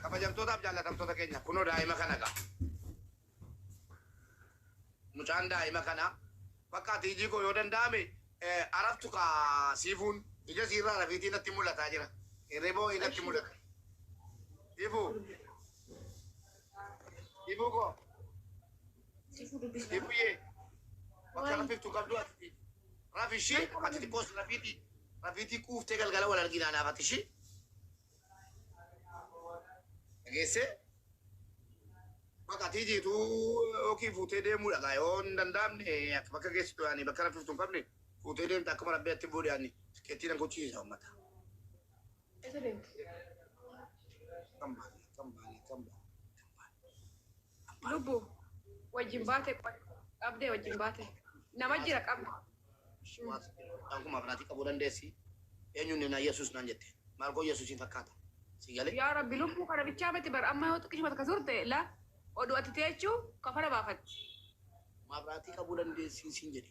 kabajamtootaaf jaallatamtoota keenya kunoo daa'ima kana qaba. Mucaan daa'ima kana bakka ati ijii koo yoo danda'ame araftu ka siifuun ija siirraa rafiitii natti mul'ataa jira. Hirriboo natti mul'ata. Siifuu Ibu koo. Ibuye. Bakka rafiftu qabdu ati. Rafishi ati xiqqoos rafiti. Rafiti quuftee galgala wal arginaa naaf ati ishii. Dhageessee. Bakka ati jiitu yookiin fuutee deemuudha gaa yoo hin danda'amne akka bakka geessitu yaani bakka rafiftu hin qabne fuutee deemta akkuma rabbi atti boodee yaani qeettii nan gochiisa uummata. Eessa deemti? Lubbu wajjin baate qoy. Qabdee wajjin baate. Nama jira qabde. Akkuma abnaatii qabuu dandeessi. Eenyuun neenaa Yesuus naan jette. Maal koo Yesuusiin fakkaata. Si galee? Yaa rabbi lubbuu kana bichaa miti bar amma yoo xiqqishuma takka turte la oduu ati teechuu kafara baafatti. Mabraatii qabuu dandeessi siin jedhe.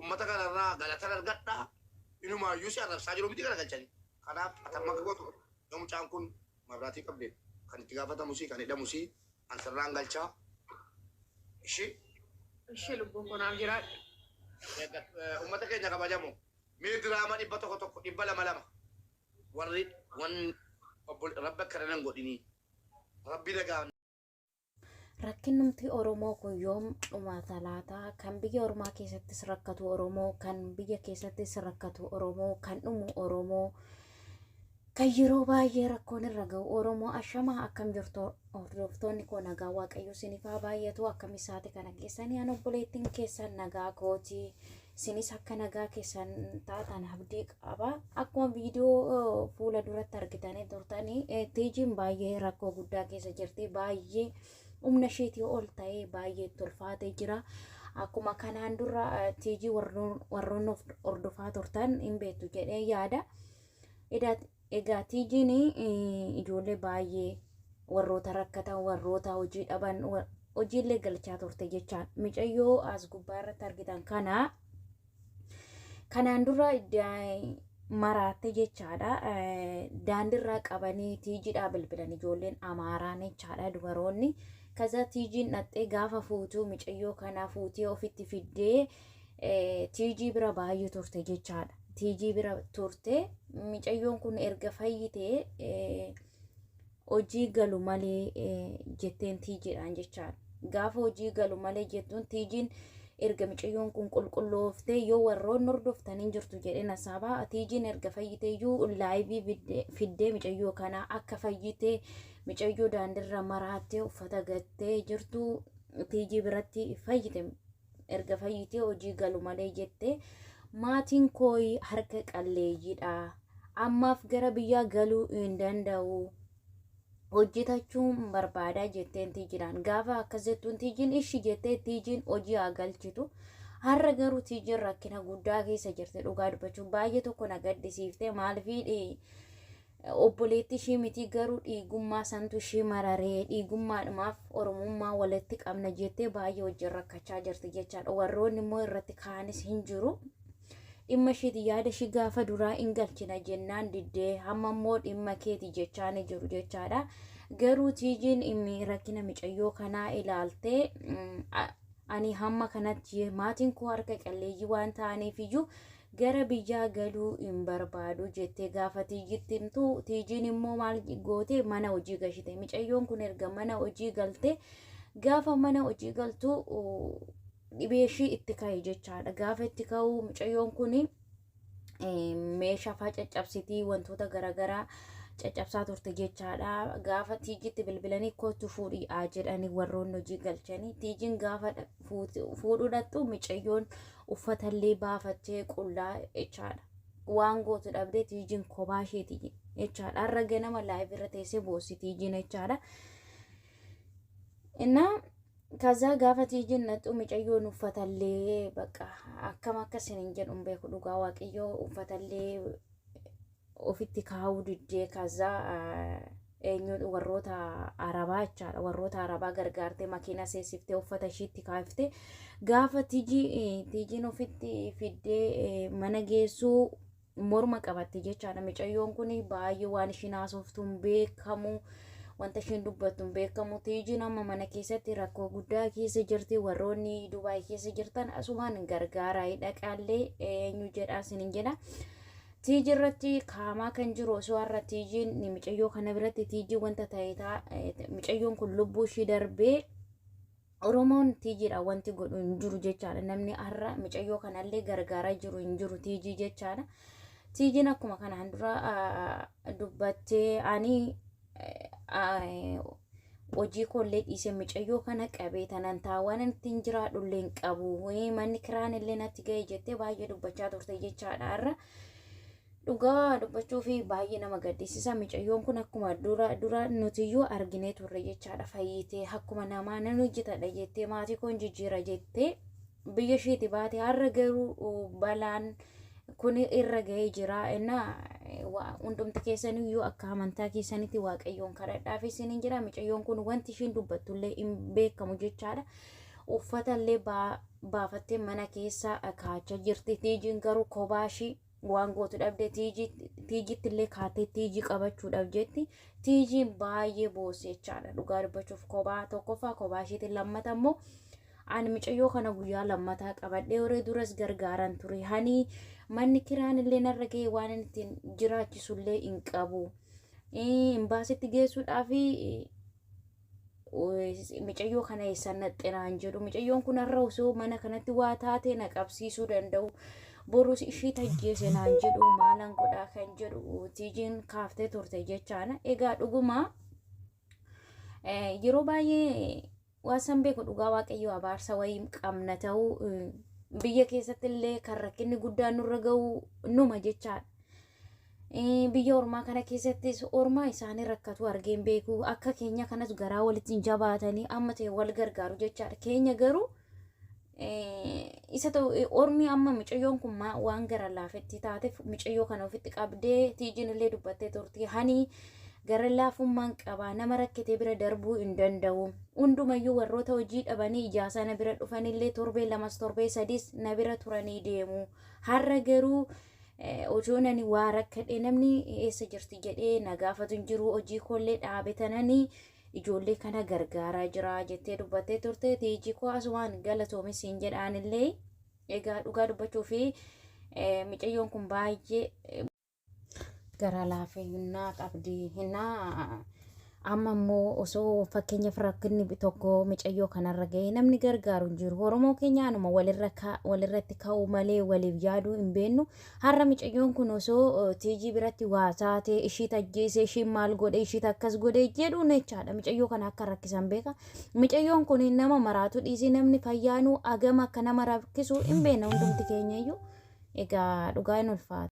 Ummata kana irraa galatan argadha. Inumaayyuu si arrabsaa jiru miti garagalchanii. Kanaaf ati amma akka gootu yoo mucaan kun mabraatii qabde kan itti gaafatamusii kan hidhamusii an sirraan galchaa. Ishi Ishee lubbuu koo naaf jiraadhu. ummata keenya kabajamu mee diraama dhibba tokko tokko dhibba lama lama warri wan obbo rabbi akkana nan godhinii rabbi nagaan Rakkinnumti Oromoo kun yoom dhumaata laata? Kan biyya ormaa keessattis rakkatu Oromoo, kan biyya keessattis rakkatu Oromoo, kan dhumu Oromoo, kan yeroo baay'ee rakkoon irra ga'u Oromoo. Ashamaa akkam jirtu hordoftoonni koo nagaa Waaqayyo isiniif haa baay'atu. Akkam isaati kana keessanii an obboleettiin keessan nagaa kooti. Isinis akka nagaa keessan taatan abdii qaba. Akkuma viidiyoo fuula duratti argitanii turtanii eh, tiijiin baay'ee rakkoo guddaa keessa jirti. Baay'ee humna isheetii ol ta'ee baay'ee itti ulfaatee jira. Akkuma kanaan dura eh, tiijii warroon warroon of hordofaa turtan hin beektu jedhee yaada. Edaa Egaa tiijiin ijoollee baay'ee warroota rakkatan warroota hojii dhaban hojiillee galchaa turte jechaan micayyoo as gubbaa irratti argitan kana kanaan dura maraatte jechaadha daandirraa qabanii tiijidhaa bilbilan ijoolleen amaaraan jechaadha dubaroonni kaza tiijiin dhaxxee gaafa fuutuu micayyoo kana fuutee ofitti fiddee Tiijii bira baay'ee turte jechaadha. Tiijii bira turte micayyoon kun erga fayyitee hojii galu malee jetteen tiijiidhaan jechaadha. Gaafa hojii galu malee jettuun tiijiin erga micayyoon kun qulqullooftee yoo warroonni hordoftan hin jirtu jedheen hasaabaa tiijiin erga fayyitee iyyuu laayivii fiddee micayyoo kanaa akka fayyitee micayyoo daandirra maraattee uffata gattee jirtu tiijii biratti fayyite erga fayyitee hojii galu malee jette maatiin koo harka qalleeyyiidha ammaaf gara biyyaa galuu hin danda'u hojjetachuun barbaadaa jetteen tiijidhaan gaafa akkas jettuun tiijiin ishi jettee tiijiin hojii haa galchitu har'a garuu tiijiin rakkina guddaa keessa jirti dhugaa dubbachuu baay'ee tokko na gaddisiifte maaliif Obboleetti ishii mitii garuu dhiigummaa santu ishii mararee dhiigummaadhumaaf oromummaa walitti qabna jettee baay'ee wajjin rakkachaa jirti jechaadha warroonni immoo irratti kaanis hin jiru dhimma ishiiti yaada ishii gaafa duraa in galchina jennaan diddee hamma immoo dhimma keeti jechaa ni jiru jechaadha garuu tiijiin immi rakkina micayyoo kanaa ilaaltee mm, a- ani hamma kanatti maatiin koo harka qalleeyyii waan ta'aniif iyyuu Gara biyyaa galuu hin barbaadu jette gaafa Tiijitti himtu. Tiijiin immoo maal goote mana hojii gashite. Micayyoon kun erga mana hojii galte gaafa mana hojii galtu dhibee ishii itti ka'e jechaadha. Gaafa itti ka'u micayyoon kun meeshaa faa caccabsitii wantoota garaagaraa caccabsaa turte jechaadha. Gaafa tiijitti bilbilanii kootu fuudhii haa jedhanii warroonni hojii galchanii. Tiijiin gaafa fuudhuu dhaqxu micayyoon uffatallee baafattee qullaa jechaadha. Waan gootu dhabdee tiijiin kophaa isheeti jechaadha. Har'a ganama laayif irra teessee boossi tiijiin jechaadha. Innaa kazaa gaafa tiijiin naxxu micayyoon uffatallee bakka akkam akka isin hin jedhu hin beeku dhugaa waaqayyoo uffatallee ofitti kaa'uu diddee kaza eenyuun warroota arabaa jechaadha warroota arabaa gargaartee makiina seesiftee uffata ishiitti kaafte gaafa tiji tijiin ofitti fiddee eh, mana geessuu morma qabatte jechaadha micayyoon kun baay'ee waan ishiin haasoftuun beekamu wanta ishiin dubbattuun beekamu tijiin amma mana keessatti rakkoo guddaa keessa jirti warroonni dubaay keessa jirtan asumaan gargaaraa dhaqaallee eenyu jedhaa sinin jedha Tiiji irratti kaamaa kan jiru osoo har'a tiijiin micayyoo kana biratti tiijii wanta ta'eetaa micayyoon kun lubbuu ishii darbee Oromoon tiijiidha wanti godhu hin jiru jechaadha namni har'a micayyoo kanallee gargaaraa jiru hin jiru tiijii jechaadha. Tiijiin akkuma kanaan dura dubbattee ani hojii koollee dhiisee micayyoo kana qabee tanan taawaan itti hin jiraadhu illee hin qabu manni kiraan illee natti ga'e jettee baay'ee dubbachaa turte jechaadha irra dhugaa dubbachuu fi baay'ee nama gaddisiisa micayyoon kun akkuma dura dura nutiyyuu arginee turre jechaadha fayyitee akkuma namaa nan hojjetadha jettee maatii koon jijjiira jettee biyya ishiiti baate har'a garuu balaan kun irra ga'ee jira innaa hundumti keessanii yoo akka amantaa keessanitti waaqayyoon kadhadhaaf isiniin jira micayyoon kun wanti ishiin dubbattullee hin beekamu jechaadha uffatallee baafattee mana keessa kaachaa jirti tiijiin garuu kophaa ishii waan gootu dhabde tiijiitti illee kaatee tiijii qabachuudhaaf jetti tiijiin baay'ee boossi jechaadha dhugaa dubbachuuf kophaa tokkoffaa kophaa isheetiin lammata immoo ani micayyoo kana guyyaa lammataa qabadhee waree duras gargaaran ture hanii manni kiraan illee narra ga'e waan inni ittiin jiraachisu illee hin qabu imbaasitti geessuudhaaf micayyoo kana eessan naxxinaan jedhu micayyoon kun har'a osoo mana kanatti waa taatee na qabsiisuu danda'u borus ishii tajjeese naan jedhu maalan godhaa kan jedhu tiijiin kaaftee turte jechaana egaa dhuguma yeroo baay'ee waasan beeku dhugaa waaqayyoo abaarsa wayii qabna ta'uu biyya keessatti illee kan rakkinni guddaan nurra ga'u numa jechaadha biyya ormaa kana keessattis ormaa isaanii rakkatu argee hin beeku akka keenya kanas garaa walitti hin jabaatanii amma ta'e wal gargaaru jechaadha keenya garuu isa ta'u ormi amma micayyoon kun waan gara laafetti taateef micayyoo kana ofitti qabdee tiijiin illee dubbattee turte hanii gara laafummaan qaba nama rakkitee bira darbuu hin danda'u hundumayyuu warroota hojii dhabanii ijaasaa na bira dhufanillee torbee lamas torbee sadiis na bira turanii deemu har'a garuu. Otuun ani waa rakkadhee namni eessa jirti jedhee na gaafatu hin jiru hojii koollee dhaabe tanani ijoollee kana gargaaraa jira jettee dubbattee turte tiijii koo asumaan galatoomi siin jedhaanillee egaa dhugaa dubbachuu fi micayyoon kun baay'ee garaa laafinnaa qabdi hinnaa Amma immoo osoo fakkeenyaaf rakkinni tokko micayyoo kanarra ga'ee namni gargaaru hin jiru. Oromoo keenya anuma walirra ka- walirratti ka'uu malee waliif yaaduu hin beennu. Har'a micayyoon kun osoo eh, tiijii biratti waa taate ishiit ajjeese ishiin maal godhe ishiit akkas godhe jedhuun jechaadha. Micayyoo kana akka rakkisan beeka. Micayyoon kun nama maraatu dhiisii namni fayyaanuu agama akka nama rakkisu hin beekna hundumti keenya iyyuu. Egaa dhugaa hin ulfaata.